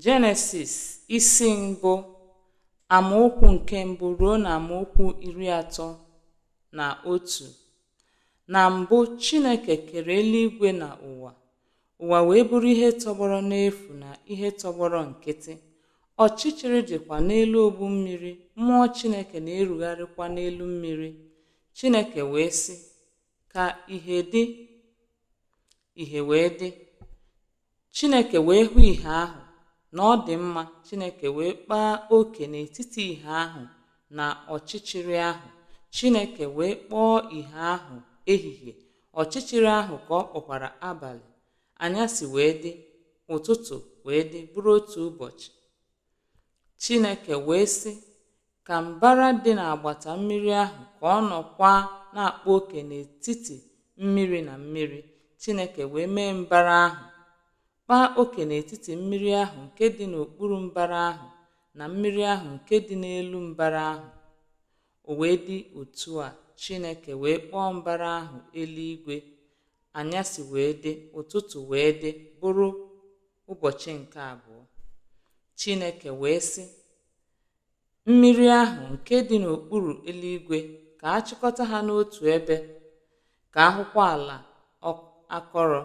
Jenesis isi mbụ amaokwu nke mbụ ruo na amaokwu iri atọ na otu na mbụ Chineke kere eluigwe na ụwa ụwa wee bụrụ ihe tọgbọrọ n'efu na ihe tọgbọrọ nkịtị ọchịchịrị dịkwa n'elu ogbu mmiri mmụọ Chineke na-erugharịkwa n'elu mmiri Chineke wee sị ka ìhè dị ìhè wee dị chineke wee hụ ìhè ahụ na ọ dị mma chineke wee kpaa oke n'etiti ìhè ahụ na ọchịchịrị ahụ chineke wee kpọọ ìhè ahụ ehihie ọchịchịrị ahụ ka ọ kpọkwara abalị anyasị wee dị ụtụtụ wee dị bụrụ otu ụbọchị Chineke wee sị, Ka mbara dị n'agbata mmiri ahụ ka ọ nọkwa na-akpa oke n'etiti mmiri na mmiri. Chineke wee mee mbara ahụ, kpaa oke n'etiti mmiri ahụ nke dị n'okpuru mbara ahụ na mmiri ahụ nke dị n'elu mbara ahụ. O wee dị otu a, Chineke wee kpọọ mbara ahụ eluigwe, anyasị wee dị, ụtụtụ wee dị, bụrụ ụbọchị nke abụọ. Chineke wee sị, Mmiri ahụ nke dị n'okpuru eluigwe ka a chịkọta ha n'otu ebe, ka a hụkwa ala akọrọ.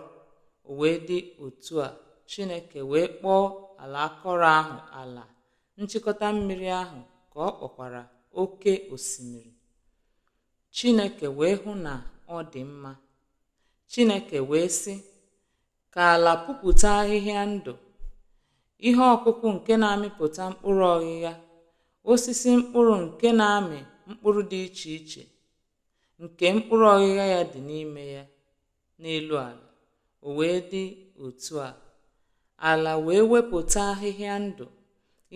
O wee dị otu a, Chineke wee kpọọ ala akọrọ ahụ ala. nchịkọta mmiri ahụ ka ọ kpọkwara oke osimiri. Chineke wee hụ na ọ dị mma. Chineke wee sị, Ka ala pupụta ahịhịa ndụ, ihe ọkụkụ nke na-amịpụta mkpụrụ ọghịgha, osisi mkpụrụ nke na-amị mkpụrụ dị iche iche, nke mkpụrụ ọghịgha ya dị n'ime ya, n'elu ala, o wee dị otu a, ala wee wepụta ahịhịa ndụ,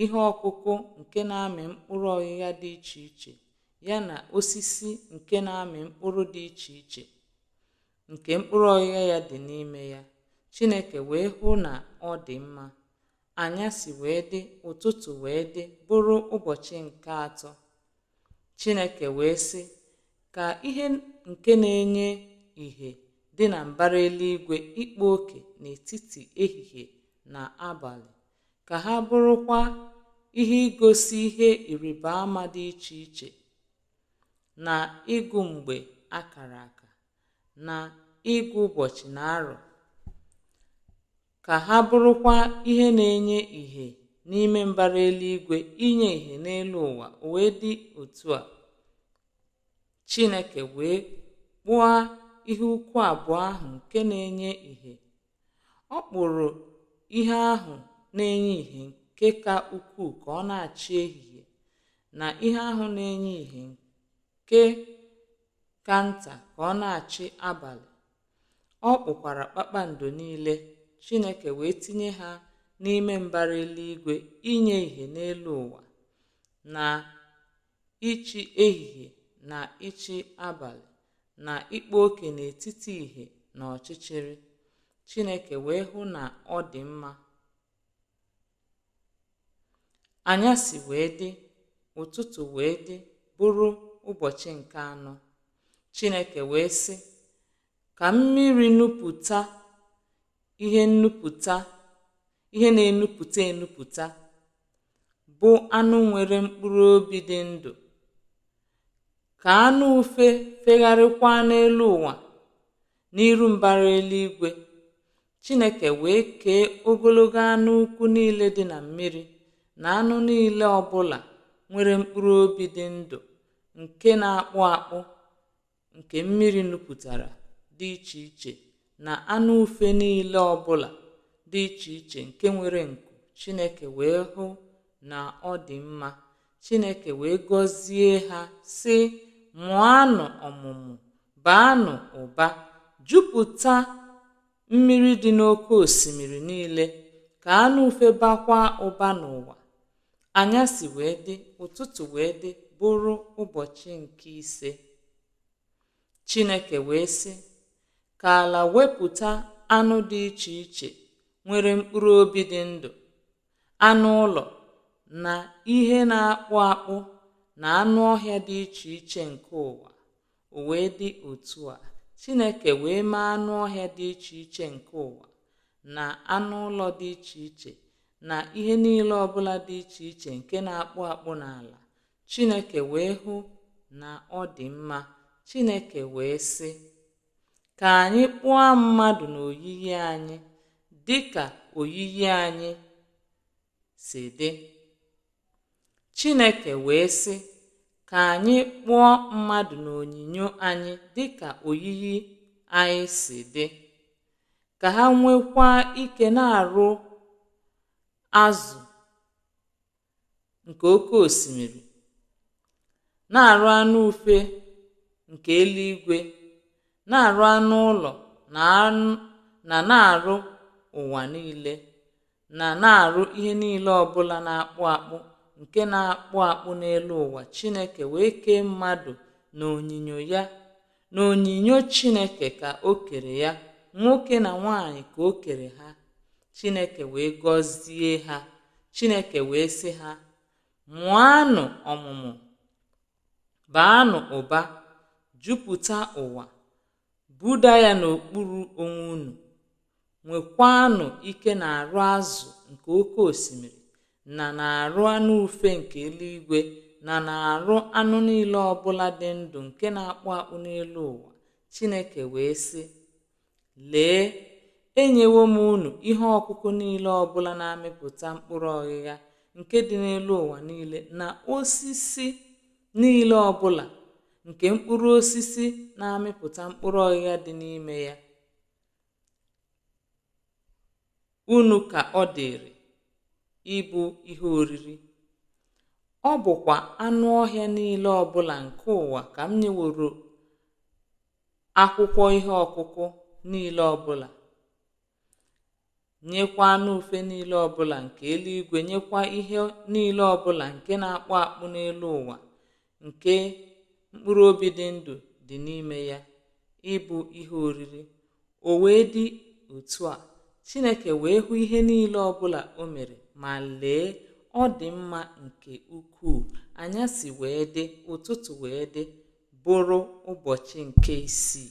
ihe ọkụkụ nke na-amị mkpụrụ ọghịgha dị iche iche, ya na osisi nke na-amị mkpụrụ dị iche iche, nke mkpụrụ ọghịgha ya dị n'ime ya. Chineke wee hụ na ọ dị mma. Anyasị wee dị, ụtụtụ wee dị, bụrụ ụbọchị nke atọ. Chineke wee sị, Ka ihe nke na-enye ìhè dị na mbara eluigwe ịkpa oke n'etiti ehihie na abalị, ka ha bụrụkwa ihe igosi ihe ịrịba ama dị iche iche na ịgụ mgbe a kara aka, na ịgụ ụbọchị na arọ. ka ha bụrụkwa ihe na-enye ìhè n'ime mbara eluigwe inye ìhè n'elu ụwa, o wee dị otu a. Chineke wee kpụọ ihe ukwu abụọ ahụ nke na-enye ìhè. Ọ kpụrụ ihe ahụ na-enye ìhè nke ka ukwuu ka ọ na-achị ehihie na ihe ahụ na-enye ìhè nke ka nta ka ọ na-achị abalị. Ọ kpụkwara kpakpando niile, Chineke wee tinye ha n'ime mbara eluigwe inye ìhè n'elu ụwa, na ịchị ehihie na ịchị abalị, na ịkpa oke n'etiti ìhè na ọchịchịrị. Chineke wee hụ na ọ dị mma. Anyasị wee dị, ụtụtụ wee dị, bụrụ ụbọchị nke anọ. Chineke wee sị, Ka mmiri nupụta ihe nupụta ihe na-enupụta enupụta, bụ anụ nwere mkpụrụ obi dị ndụ, ka anụ ufe fegharịkwa n'elu ụwa n'iru mbara eluigwe, Chineke wee kee ogologo anụ ukwu niile dị na mmiri na anụ niile ọbụla nwere mkpụrụ obi dị ndụ nke na-akpụ akpụ nke mmiri nupụtara dị iche iche na anụ ufe niile ọbụla dị iche iche nke nwere nku Chineke wee hụ na ọ dị mma Chineke wee gọzie ha, sị, Mụọnụ ọmụmụ, baanụ ụba, jupụta mmiri dị n'oke osimiri niile, ka anụ ufe bakwa ụba n'ụwa. Anyasị wee dị, ụtụtụ wee dị, bụrụ ụbọchị nke ise. Chineke wee sị, Ka ala wepụta anụ dị iche iche nwere mkpụrụ obi dị ndụ anụ ụlọ na ihe na-akpụ akpụ na anụ ọhịa dị iche iche nke ụwa. O wee dị otu a, Chineke wee mee anụ ọhịa dị iche iche nke ụwa na anụ ụlọ dị iche iche na ihe niile ọbụla dị iche iche nke na-akpụ akpụ n'ala. Chineke wee hụ na ọ dị mma. Chineke wee sị, Ka anyị kpụọ mmadụ n'oyiyi anyị dị ka oyiyi anyị si dị. Chineke wee sị, Ka anyị kpụọ mmadụ n'onyinyo anyị dị ka oyiyi anyị si dị, ka ha nwekwa ike n'arụ azụ nke oke osimiri, n'arụ anụ ufe nke eluigwe, n'arụ anụ ụlọ na n'arụ ụwa niile, na na n'arụ ihe niile ọbụla na-akpụ akpụ nke na-akpụ akpụ n'elu ụwa. Chineke wee kee mmadụ n'onyinyo ya. N'onyinyo Chineke ka o kere ya, nwoke na nwaanyị ka o kere ha. Chineke wee gọzie ha. Chineke wee sị ha, Mụọnụ ọmụmụ, baanụ ụba, jupụta ụwa, buda ya n'okpuru onwe unu. nwekwaanụ ike n'arụ azụ nke oke osimiri na n'arụ anụ ufe nke eluigwe na n'arụ anụ niile ọbụla dị ndụ nke na-akpụ akpụ n'elu ụwa chineke wee sị lee enyewo m unu ihe ọkụkụ niile ọbụla na-amịpụta mkpụrụ ọghịgha nke dị n'elu ụwa niile na osisi niile ọbụla nke mkpụrụ osisi na-amịpụta mkpụrụ ọghịgha dị n'ime ya unu ka ọ dịrị ịbụ ihe oriri. Ọ bụkwa anụ ọhịa niile ọbụla nke ụwa ka m nyeworo akwụkwọ ihe ọkụkụ niile ọbụla. nyekwa anụ ufe niile ọbụla nke eluigwe nyekwa ihe niile ọbụla nke na-akpụ akpụ n'elu ụwa nke mkpụrụ obi dị ndụ dị n'ime ya ịbụ ihe oriri o wee dị otu a chineke wee hụ ihe niile ọbụla o mere ma lee ọ dị mma nke ukwuu anyasị wee dị ụtụtụ wee dị bụrụ ụbọchị nke isii